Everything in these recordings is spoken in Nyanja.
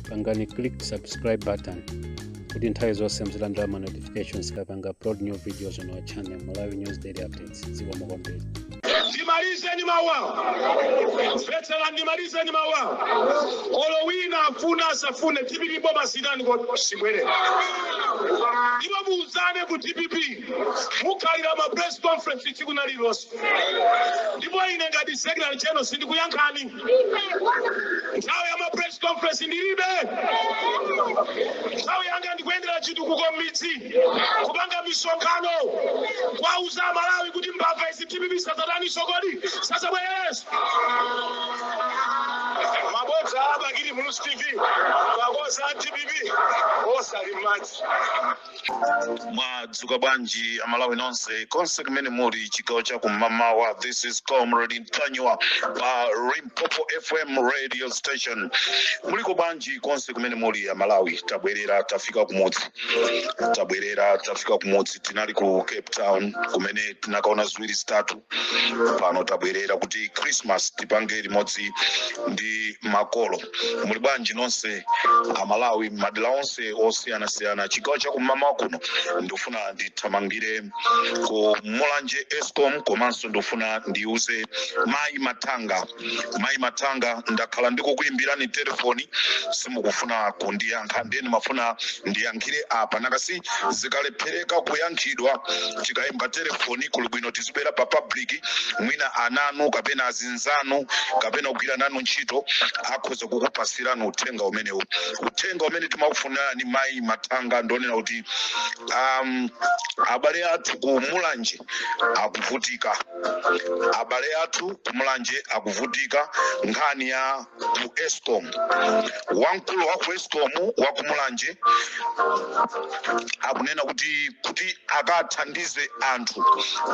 pangani click subscribe button kuti nthawi zonse muzilandira ma notifications kapanga upload new videos on our channel malawi news daily updates zikomo kwambiri ndimalize ndi mawu awa mvetserani ndimalize ndi mawu awa olo wina afune asafune dpp boma sitani ko sibwerera ndipo muuzane ku dpp mukhalira ma press conference tsiku na lilonse ndipo ine ngati secretary general sindikuyankhani nthawi ya ma press conference ndilibe nthawi yanga ndikuyendera chitukuko m'midzi kupanga misonkhano kwauza amalawi kuti mbava izi dpp sadzataninso kodi sadzabwereranso mabodza a bakili muluzi tv mabodza a dpp onse ali m'madzi mwadzuka bwanji amalawi nonse konse kumene muli chigawo cha kum'mawa this is comrade ntanyiwa pa limpopo fm radio station muliko bwanji konse kumene muli amalawi tabwerera tafika kumudzi tabwerera tafika kumudzi tinali ku cape town kumene tinakaona ziwiri zitatu pano tabwerera kuti christmas tipange limodzi ndi makolo muli bwanji nonse amalawi madera onse osiyanasiyana chigawo chakum'mawa kuno ndifuna ndithamangire ku mulanje escom komanso ndifuna ndiuze mayi mathanga mayi mathanga ndakhala ndikukuyimbirani telefoni simukufuna kundiyankha ndiye ndimafuna ndiyankhire apa nanga si zikalephereka kuyankhidwa tikayimba telefoni kuli bwino tizibwera pa public mwina ana anu kapena azi anzanu kapena ogwira nanu ntchito akhoza kukupatsirani uthenga umenewu uthenga umene timakufunirani mayi mathanga ndi wonena kuti um, abale athu ku mulanje akuvutika abale athu ku mulanje akuvutika nkhani ya ku escom wamkulu wa ku escom wa ku mulanje akunena kuti kuti akathandize anthu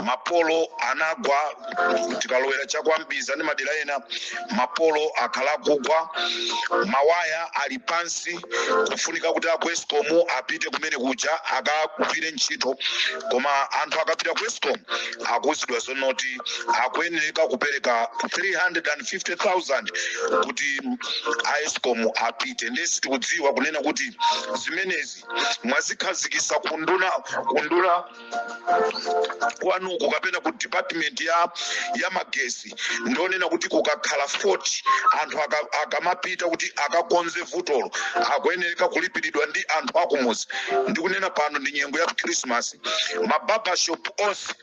mapolo anagwa tikalowera cha kwa mbiza ndi madera ena mapolo akhala akugwa mawaya ali pansi kufunika kuti aku escom apite kumene kuja akagwire ntchito koma anthu akapita ku escom akuuzidwa zonoti akuyenereka kupereka 350,000 kuti aescom apite ndiye sitikudziwa kunena kuti zimenezi mwazikhazikisa ku unduna ku unduna kwanuko kapena ku department ya ya magesi ndonena kuti kukakhala fault anthu akamapita kuti akakonze vutolo akuyenereka kulipiridwa ndi anthu akumuzi ndikunena pano ndi nyengo ya krismasi mababashop onse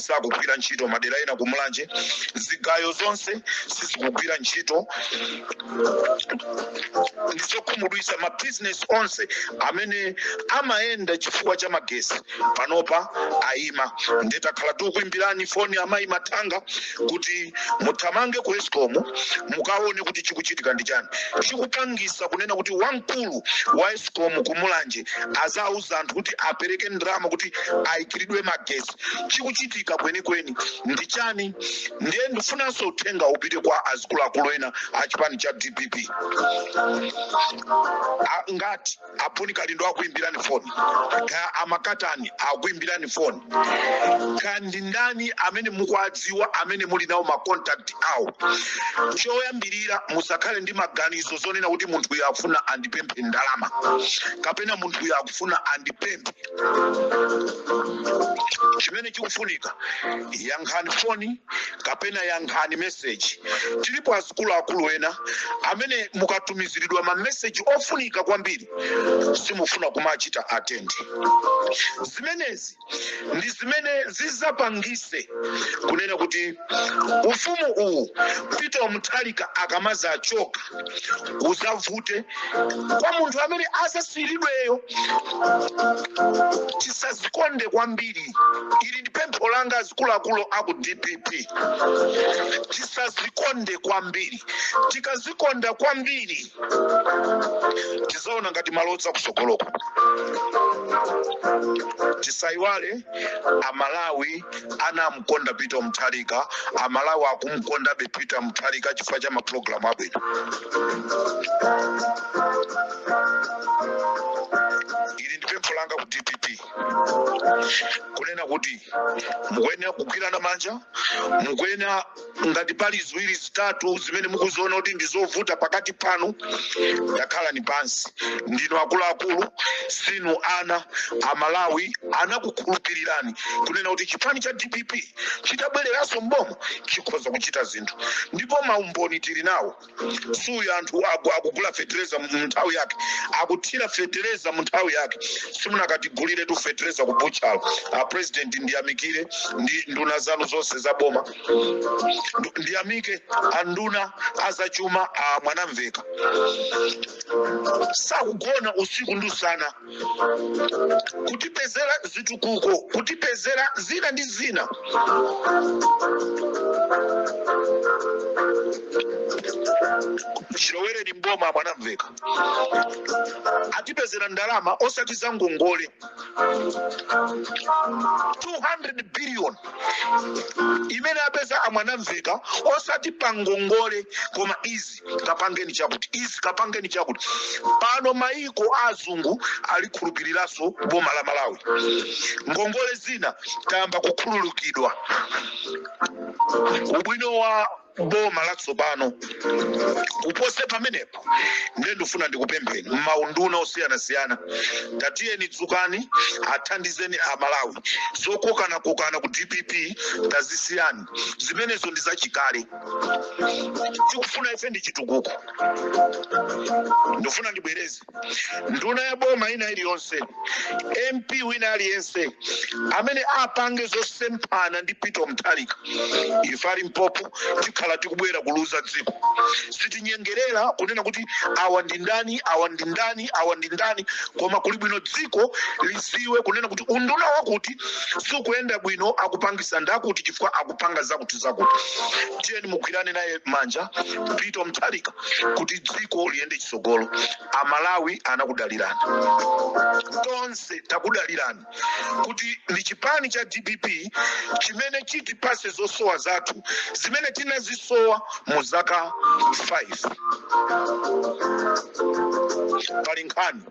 sakugwira ntchito madera ena kumulanje zigayo zonse sizikugwira ntchito ndizokhumudwisa mabizinesi onse amene amayenda chifukwa cha magesi panopa ayima nde takhala tikuimbirani foni amayi mathanga kuti muthamange ku escom mukaone kuti chikuchitika ndi chani chikupangisa kunena kuti wamkulu wa escom ku mulanje azauze anthu kuti apereke ndalama kuti ayikiridwe magesi chikuchitika kwenikweni ndi chani ndiye ndifunanso uthenga upite kwa azikuluakulu ena a chipani cha dpp ngati a bon kalindo akuimbirani foni kaya amakatani akuimbirani foni kaya ndi ndani amene mukuwadziwa amene muli nawo macontact awo choyambirira musakhale ndi maganizo zonena kuti munthu uyu akufuna andipemphe ndalama kapena munthu uyu akufuna andipemphe chimene chikufunika yankhani foni kapena yankhani meseji tilipo azikuluakulu ena amene mukatumiziridwa mameseji ofunika kwambiri simufuna kumachita atendi zimenezi ndi zimene zizapangise kunena kuti ufumu uwu peter mutharika akamazachoka uzavute kwa munthu amene azasiyiridweyo tisazikonde kwambiri ili ndi pempho langa azikuluakulu aku dpp tisazikonde kwambiri tikazikonda kwambiri tizaona ngati malodza kusogoloko tisayiwale amalawi anamukonda peter mutharika amalawi akumukondabe peter mutharika chifukwa cha mapulogalamu abwino ili ndi pempho langa ku dpp kunena kuti mukuyenera kugwirana manja mukuyenera ngati pali ziwiri zitatu zimene mukuziona kuti ndi zovuta pakati panu takhalani pansi ndinu akuluakulu sinu ana amalawi anakukhulupirirani kunena kuti chipani cha dpp chitabwereranso mboma chikhoza kuchita zinthu ndipo maumboni tili nawo suyu anthu akugula fetereza mu nthawi yake akuthira fetereza mu nthawi yake simunakatiguliretu fetereza ku buchalo a president ndiyamikire ndi nduna zanu zonse za boma ndiyamike anduna azachuma a mwanamveka sakugona usiku ndi usana kutipezera zitukuko kutipezera zina ndi zina chilowereni mboma a Mwanamveka atipezera ndalama osati za ngongole 200 billion imene apeza a Mwanamveka osati pa ngongole koma izi kapangeni chakuti izi kapangeni chakuti pano maiko a azungu alikhulupiriranso boma la malawi ngongole zina tayamba kukhululukidwa ubwino wa boma latsopano kupose pamenepo ndiye ndifuna ndikupempheni mmaunduna osiyanasiyana tatiyeni dzukani athandizeni amalawi zokokanakokana ku dpp tazisiyani zimenezo ndi zachikale tikufuna ife ndi chitukuko ndifuna ndibwereze nduna ya boma ina iliyonse mp wina aliyense amene apange zosemphana ndi peter mutharika ife ali mpopo tikhala tikubwera kuliuza dziko sitinyengerera kunena kuti awa ndi ndani awa ndi ndani awa ndi ndani koma kuli bwino dziko lidziwe kunena kuti unduna wakuti sukuyenda bwino akupangisa ndakuti chifukwa akupanga zakuti zakuti tiyeni mugwirane naye manja peter mutharika kuti dziko liyende chitsogolo amalawi anakudalirani tonse takudalirani kuti ndi chipani cha dpp chimene chitipatse zosowa zathu zimene tinazisowa mu zaka 5 pali nkhani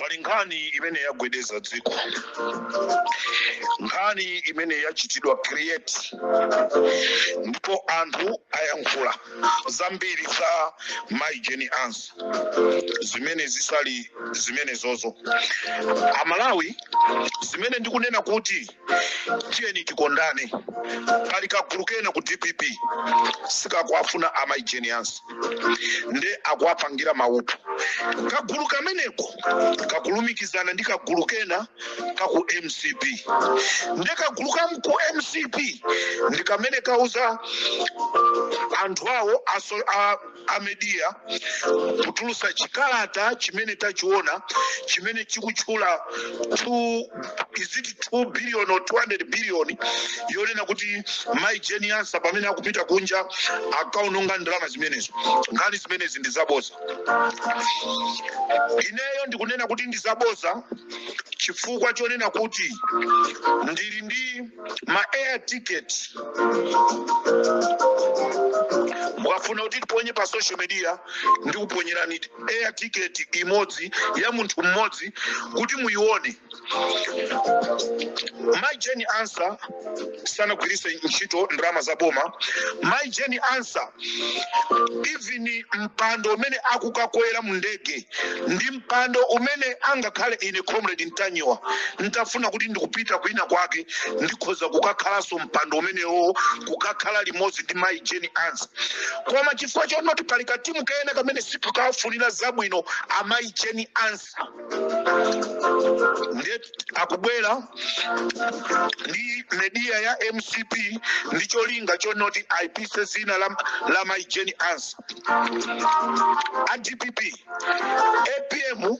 pali nkhani imene yagwedeza dziko nkhani imene yachitidwa create ndipo anthu ayankhula zambiri za mai jane ansah zimene zisali zimenezo amalawi zimene ndikunena kuti tiyeni tikondane pali kagulu kena ku dpp sikakuwafuna amai jane ansah nde akuwapangira maupo kagulu kameneko kakulumikizana ndi kagulu kena ka ku mcp nde kagulu ka ku mcp ndi kamene kauza anthu awo aso, a, a media kutulutsa chikalata chimene tachiona chimene chikutchula two- is it 2 billion or 200 billion yonena kuti mai jane ansah pamene akupita kunja akaononga ndalama zimenezo nkhani zimenezi ndi zaboza ineyo ndikunena kuti ndi zaboza chifukwa chonena kuti ndili ndi ma air ticket mukafuna kuti tiponye pa social media ndikuponyerani air ticket imodzi ya munthu mmodzi kuti muyione mai jane ansah sanagwiritse ntchito ndalama za boma mai jane ansah even mpando umene akukakwera mu ndege ndi mpando umene angakhale ine comrade ntanyiwa ntafuna kuti ndikupita kwina kwake ndikhoza kukakhalanso mpando umenewo kukakhala limodzi ndi mai jane ansah koma chifukwa chonoti pali katimu kena kamene sikakufunira zabwino amayi jane ansah ndiye akubwera ndi media ya mcp ndi cholinga chonoti aipise dzina la mai jane ansah a dpp apm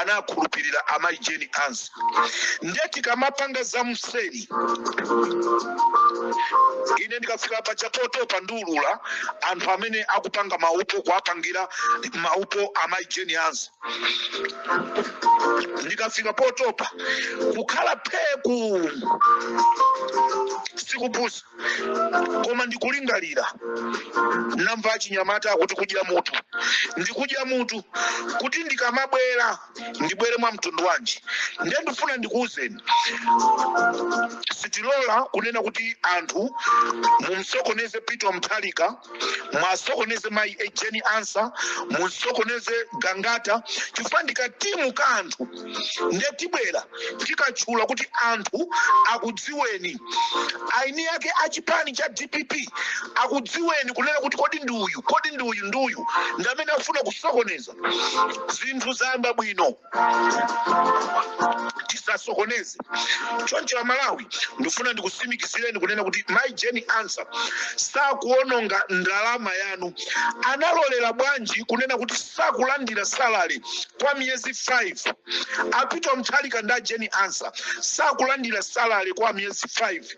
anakhulupirira amai jane ansah ndiye tikamapanga za mseri ine ndikafika pa cha potopa ndiulula anthu amene akupanga maupo kuwapangira maupo amai jane ansah ndikafika potopa kukhala pheku sikupusa koma ndikulingalira namva achinyamata akuti kudya mutu ndikudya mutu kuti ndikamabwera ndibwere mwa mtundu wanji ndiye ndifuna ndikuwuzeni sitilola kunena kuti anthu mumsokoneze peter mutharika muwasokoneze mayi jane ansah mumsokoneze gangata chifukwa ndi katimu ka anthu nde tibwera tikatchula kuti anthu akudziweni aeni ake a chipani cha dpp akudziweni kunena kuti kodi ndi uyu kodi ndi uyu ndi uyu ndi amene afuna kusokoneza zinthu zayamba bwino tisasokoneze choncho amalawi ndifuna ndikutsimikizireni kunena kuti mai jane ansah sakuononga ndalama yanu analolera bwanji kunena kuti sakulandira salary kwa miyezi 5 a peter mutharika ndi a jane ansah sakulandira salary kwa miyezi 5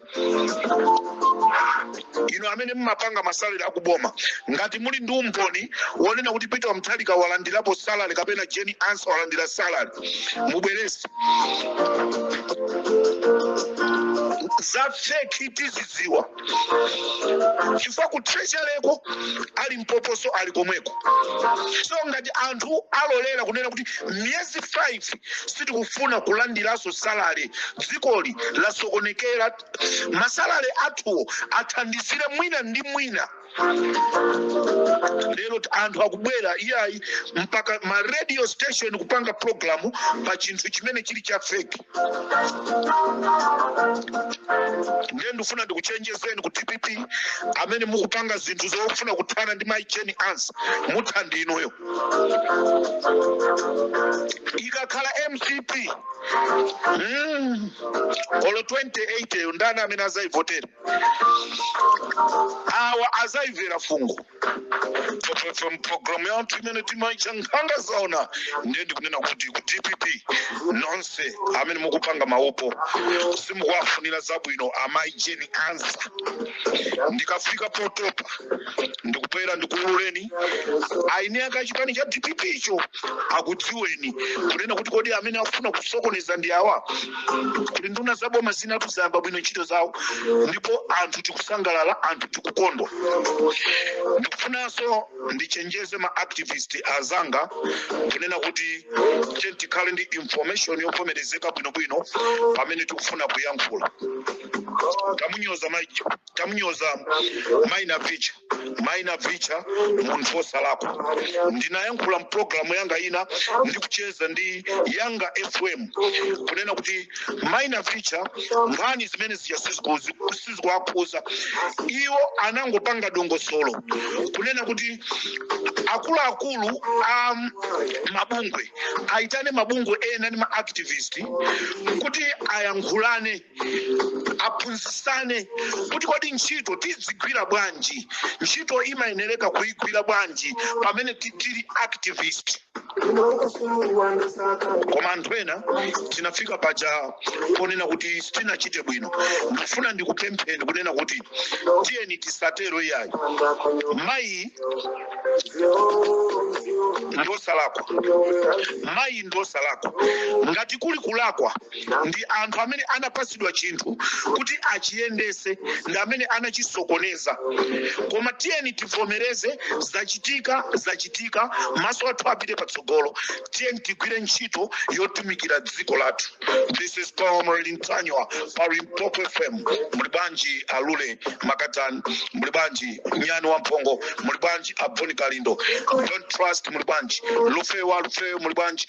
inu amene mumapanga masalary akuboma ngati muli ndi umboni wonena kuti peter wa mutharika walandirapo salary kapena jane ansah walandira salary mubweretse za fake tizidziwa chifukwa ku treasuryko ali mpoposo ali komweko so ngati anthu alolera kunena kuti miyezi 5 madzi sitikufuna kulandiranso salary dzikoli lasokonekera masalary athuwo athandizire mwina ndi mwina lero t- anthu akubwera iyayi mpaka ma radio station kupanga programu pa chinthu chimene chili cha fake ndiye ndifuna ndikuchenjezeni ku dpp amene mukupanga zinthu zofuna kuthana ndi mayi jane ansah mutha ndi inuyo ikakhala mcp mm, olo 2080 yo ndani amene azayivotera awa azayivera fungo pfepfepfe mpulogalamu yathu imene timaitcha nkhanga zaona ndiye ndikunena kuti ku dpp nonse amene mukupanga maupo simukuwafunira zabwino amai jane ansah ndikafika potopa ndikubwera ndikuululeni aeni ake achipani cha dpp icho akudziweni kunena kuti kodi amene akufuna kusokoneza ndi awa kuti nduna za boma zinatu zayamba bwino ntchito zawo ndipo anthu tikusangalala anthu tikukondwa ndikufunanso ndichenjeze ma activist azanga kunena kuti tiyeni tikhale ndi information yovomerezeka bwinobwino pamene tikufuna kuyankhula tamunyoza maicho tamunyoza mai navicha mai navicha munthu wosalakwa ndinayankhula mpulogalamu yanga ina ndikucheza ndi yanga fm kunena kuti mai navicha nkhani zimene zija sizikuzi- sizikuwakhuza iwo anangopanga dongosolo kunena kuti akuluakulu a mabungwe aitane mabungwe ena ndi maactivist kuti ayankhulane aphunzitsane kuti kodi ntchito tidzigwira bwanji ntchito imayenereka kuyigwira bwanji pamene ti- tili activist koma anthu ena tinafika paja ponena kuti sitinachite bwino ndifuna ndikupempheni kunena kuti tiyeni tisatero iyayi mayi ndosalakwa mayi ndosalakwa ngati kuli kulakwa ndi anthu amene anapatsidwa chinthu kuti achiyendese ndi amene anachisokoneza koma tiyeni tivomereze zachitika zachitika maso athu apite patsogolo tiyeni tigwire ntchito yotumikira dziko lathu this is comrade ntanyiwa pa limpopo fm muli bwanji alule makatani muli bwanji nyani wa mphongo muli bwanji a bon kalindo don't trust muli bwanji lufewa lufewa muli bwanji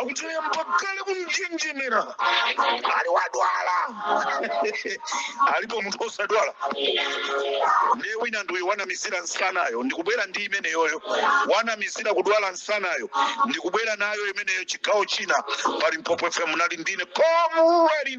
akutuye mpakale kunjenjemera ali wadwala alipo munthu osadwala ndiye wina ndi uyu wanamizira msanayo ndikubwera ndi imeneyoyo wanamizira kudwala msanayo ndikubwera nayo imeneyo chigawo china pa Limpopo fm nali ndine komuweli